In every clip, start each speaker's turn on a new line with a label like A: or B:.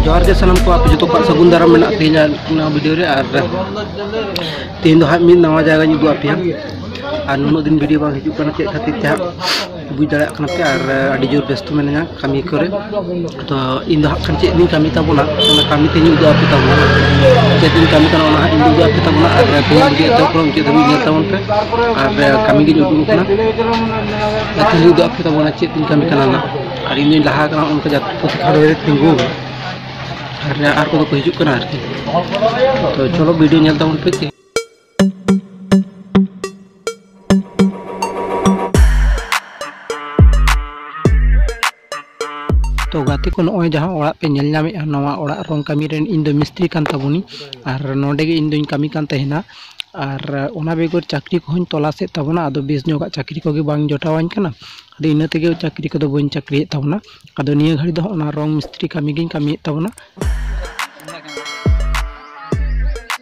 A: ᱡᱚᱦᱟᱨ ᱜᱮ ᱥᱟᱱᱟᱢ ᱠᱚ ᱟᱯᱮ ᱡᱚᱛᱚ ᱠᱚᱣᱟᱜ ᱥᱟᱹᱜᱩᱱ ᱫᱟᱨᱟᱢ ᱢᱮᱱᱟᱜ ᱛᱤᱧᱟ ᱱᱚᱣᱟ ᱵᱷᱤᱰᱤᱭᱳ ᱨᱮ ᱟᱨ ᱛᱮᱦᱮᱧ ᱫᱚ ᱦᱟᱸᱜ ᱢᱤᱫ ᱱᱟᱣᱟ ᱡᱟᱭᱜᱟᱧ ᱩᱫᱩᱜ ᱟᱯᱮᱭᱟ ᱟᱨ ᱱᱩᱱᱟᱹᱜ ᱫᱤᱱ ᱵᱷᱤᱰᱤᱭᱳ ᱵᱟᱝ ᱦᱤᱡᱩᱜ ᱠᱟᱱᱟ ᱪᱮᱫ ᱠᱷᱟᱹᱛᱤᱨ ᱛᱮ ᱦᱟᱸᱜ ᱵᱩᱡᱽ ᱫᱟᱲᱮᱭᱟᱜ ᱠᱟᱱᱟ ᱯᱮ ᱟᱨ ᱟᱹᱰᱤ ᱡᱳᱨ ᱵᱮᱥᱛᱚ ᱢᱤᱱᱟᱹᱧᱟ ᱠᱟᱹᱢᱤ ᱠᱚᱨᱮ ᱛᱚ ᱤᱧ ᱫᱚ ᱦᱟᱸᱜ ᱠᱷᱟᱱ ᱪᱮᱫ ᱤᱧ ᱠᱟᱹᱢᱤ ᱛᱟᱵᱚᱱᱟ ᱚᱱᱟ ᱠᱟᱹᱢᱤ ᱛᱮᱧ ᱩᱫᱩᱜ ᱟᱯᱮ ᱛᱟᱵᱚᱱᱟ ᱪᱮᱫ ᱤᱧ ᱠᱟᱹᱢᱤ ᱠᱟᱱᱟ ᱚᱱᱟ ᱦᱟᱸᱜ ᱤᱧ ᱩᱫᱩᱜ ᱟᱯᱮ ᱛᱟᱵᱚᱱᱟ ᱟᱨ ᱛᱮᱦᱮᱧ ᱵᱷᱤᱰᱤᱭᱳ ᱮᱛᱚᱦᱚᱵ ᱠᱷᱚᱱ ᱢᱩᱪᱟᱹᱫ ᱫᱷᱟᱹᱵᱤᱡ ᱧᱮᱞ ᱛᱟᱵᱚᱱ ᱯᱮ ᱟᱨ ᱠᱟᱹᱢᱤ ᱜᱤᱧ ᱩᱫᱩᱜ ᱠᱟᱱᱟ ᱟᱨ ᱛᱮᱦᱮᱧ ᱩᱫᱩᱜ ᱟᱯᱮ ᱛᱟᱵᱚᱱᱟ ᱪᱮᱫ ᱤᱧ ᱠᱟᱹᱢᱤ ᱠᱟᱱᱟ ᱱᱟᱜ ᱟᱨ ᱤᱧ ᱫᱚᱧ ᱞᱟᱦᱟ ᱠᱟᱱᱟ ᱚᱱᱠᱟ ᱡᱟᱛᱮ ᱯᱩᱛᱷᱤ ᱠᱷᱟᱲ ᱨᱮ ᱛᱤᱸᱜᱩ ᱟᱨ ᱟᱨ ᱠᱚᱫᱚ ᱠᱚ ᱦᱤᱡᱩᱜ ᱠᱟᱱᱟ ᱟᱨᱠᱤ ᱛᱚ ᱪᱚᱞᱚ ᱵᱷᱤᱰᱤᱭᱳ ᱧᱮᱞ ᱛᱟᱵᱚᱱ ᱯᱮ ᱛᱚ ᱜᱟᱛᱮ ᱠᱚ ᱱᱚᱜᱼᱚᱭ ᱡᱟᱦᱟᱸ ᱚᱲᱟᱜ ᱯᱮ ᱧᱮᱞ ᱧᱟᱢᱮᱫᱼᱟ ᱱᱚᱣᱟ ᱚᱲᱟᱜ ᱨᱚᱝ ᱠᱟᱹᱢᱤ ᱨᱮᱱ ᱤᱧ ᱫᱚ ᱢᱤᱥᱛᱨᱤ ᱠᱟᱱ ᱛᱟᱵᱚᱱᱤᱧ ᱟᱨ ᱱᱚᱰᱮ ᱜᱮ ᱤᱧ ᱫᱚᱧ ᱠᱟᱹᱢᱤ ᱠᱟᱱ ᱛᱟᱦᱮᱱᱟ ᱟᱨ ᱚᱱᱟ ᱵᱮᱜᱚᱨ ᱪᱟᱹᱠᱨᱤ ᱠᱚᱦᱚᱸᱧ ᱛᱚᱞᱟᱥᱮᱫ ᱛᱟᱵᱚᱱᱟ ᱟᱫᱚ ᱵᱮᱥ ᱧᱚᱜᱟᱜ ᱪᱟᱹᱠᱨᱤ ᱠᱚᱜᱮ ᱵᱟᱝ ᱡᱚᱴᱟᱣᱟᱹᱧ ᱠᱟᱱᱟ ᱟᱫᱚ ᱤᱱᱟᱹ ᱛᱮᱜᱮ ᱪᱟᱹᱠᱨᱤ ᱠᱚᱫᱚ ᱵᱟᱹᱧ ᱪᱟᱹᱠᱨᱤᱭᱮᱫ ᱛᱟᱵᱚᱱᱟ ᱟᱫᱚ ᱱᱤᱭᱟᱹ ᱜᱷᱟᱹᱲᱤ ᱫᱚ ᱚᱱᱟ ᱨᱚᱝ ᱢᱤᱥᱛᱨᱤ ᱠᱟᱹᱢᱤ ᱜᱤᱧ ᱠᱟᱹᱢᱤᱭᱮᱫ ᱛᱟᱵᱚᱱᱟ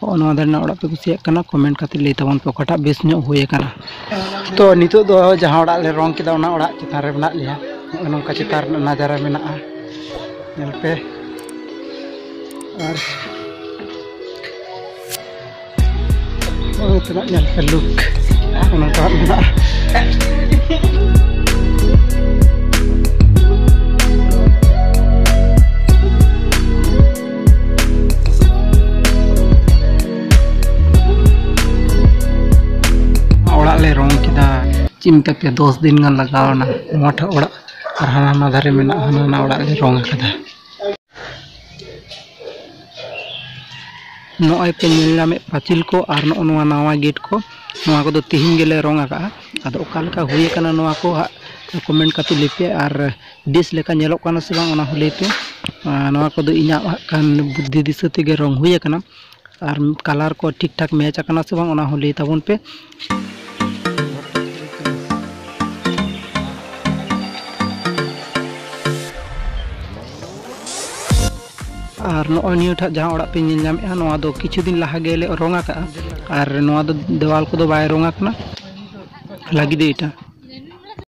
A: ᱦᱚᱸᱜᱼᱚ ᱱᱚᱣᱟ ᱫᱷᱟᱨᱮᱱᱟᱜ ᱚᱲᱟᱜ ᱯᱮ ᱠᱩᱥᱤᱭᱟᱜ ᱠᱟᱱᱟ ᱠᱚᱢᱮᱱᱴ ᱠᱟᱛᱮ ᱞᱟᱹᱭ ᱛᱟᱵᱚᱱ ᱯᱮ ᱚᱠᱟᱴᱟᱜ ᱵᱮᱥ ᱧᱚᱜ ᱦᱩᱭ ᱟᱠᱟᱱᱟ ᱛᱚ ᱱᱤᱛᱚᱜ ᱫᱚ ᱡᱟᱦᱟᱸ ᱚᱲᱟᱜ ᱞᱮ ᱨᱚᱝ ᱠᱮᱫᱟ ᱚᱱᱟ ᱚᱲᱟᱜ ᱪᱮᱛᱟᱱ ᱨᱮ ᱢᱮᱱᱟᱜ ᱞᱮᱭᱟ ᱱᱚᱜᱼᱚ ᱱᱚᱝᱠᱟ ᱪᱮᱛᱟᱱ ᱨᱮᱱᱟᱜ ᱱᱟᱡᱟᱨᱟ ᱢᱮᱱᱟᱜᱼᱟ ᱧᱮᱞ ᱯᱮ ᱟᱨ ᱱᱚᱜᱼᱚ ᱛᱮᱱᱟᱜ ᱧᱮᱞ ᱯᱮ ᱞᱩᱠ ᱱᱚᱜᱼᱚ ᱱᱚᱝᱠᱟ ᱢᱮᱱᱟᱜᱼᱟ ᱚᱲᱟᱜ ᱞᱮ ᱨᱚᱝ ᱠᱮᱫᱟ ᱪᱮᱫ ᱢᱮᱛᱟ ᱯᱮᱭᱟ ᱫᱚᱥ ᱫᱤᱱ ᱜᱟᱱ ᱞᱟᱜᱟᱣᱱᱟ ᱱᱚᱣᱟ ᱴᱷᱮᱱ ᱚᱲᱟᱜ ᱟᱨ ᱦᱟᱱᱟ ᱱᱟ ᱫᱷᱟᱨᱮ ᱢᱮᱱᱟᱜᱼᱟ ᱦᱟᱱᱟ ᱱᱟ ᱚᱲᱟᱜ ᱞᱮ ᱨᱚᱝ ᱟᱠᱟᱫᱟ ᱱᱚᱜᱼᱚᱭ ᱯᱮ ᱧᱮᱞ ᱧᱟᱢᱮᱫ ᱯᱟᱹᱪᱤᱞ ᱠᱚ ᱟᱨ ᱱᱚᱜᱼᱚ ᱱᱚᱣᱟ ᱱᱟᱣᱟ ᱜᱮᱴ ᱠᱚ ᱱᱚᱣᱟ ᱠᱚᱫᱚ ᱛᱤᱦᱤᱧ ᱜᱮᱞᱮ ᱨᱚᱝ ᱟᱠᱟᱫᱼᱟ ᱟᱫᱚ ᱚᱠᱟ ᱞᱮᱠᱟ ᱦᱩᱭ ᱟᱠᱟᱱᱟ ᱱᱚᱣᱟ ᱠᱚ ᱦᱟᱸᱜ ᱠᱚᱢᱮᱱᱴ ᱠᱟᱛᱮ ᱞᱟᱹᱭ ᱯᱮ ᱟᱨ ᱵᱮᱥ ᱞᱮᱠᱟ ᱧᱮᱞᱚᱜ ᱠᱟᱱᱟ ᱥᱮ ᱵᱟᱝ ᱚᱱᱟ ᱦᱚᱸ ᱞᱟᱹᱭ ᱯᱮ ᱟᱨ ᱱᱚᱣᱟ ᱠᱚᱫᱚ ᱤᱧᱟᱹᱜ ᱦᱟᱸᱜ ᱠᱷᱟᱱ ᱵᱩᱫᱽᱫᱷᱤ ᱫᱤᱥᱟᱹ ᱛᱮᱜᱮ ᱨᱚᱝ ᱦᱩᱭ ᱟᱠᱟᱱᱟ ᱟᱨ ᱠᱟᱞᱟᱨ ᱠᱚ ᱴᱷᱤᱠ ᱴᱷᱟᱠ ᱢᱮᱪ ᱟᱠᱟᱱᱟ ᱥᱮ ᱵᱟᱝ ᱚᱱᱟ ᱦᱚᱸ ᱞᱟᱹᱭ ᱛᱟᱵᱚᱱ ᱯᱮ ᱟᱨ ᱱᱚᱜᱼᱚᱭ ᱱᱤᱭᱟᱹᱴᱟᱜ ᱡᱟᱦᱟᱸ ᱚᱲᱟᱜ ᱯᱮ ᱧᱮᱞ ᱧᱟᱢᱮᱫᱼᱟ ᱱᱚᱣᱟ ᱫᱚ ᱠᱤᱪᱷᱩ ᱫᱤᱱ ᱞᱟᱦᱟ ᱜᱮᱞᱮ ᱨᱚᱝ ᱟᱠᱟᱜᱼᱟ ᱟᱨ ᱱᱚᱣᱟ ᱫᱚ ᱫᱮᱣᱟᱞ ᱠᱚᱫᱚ ᱵᱟᱭ ᱨᱚᱝ ᱟᱠᱟᱱᱟ ᱞᱟᱹᱜᱤᱫ ᱮᱴᱟ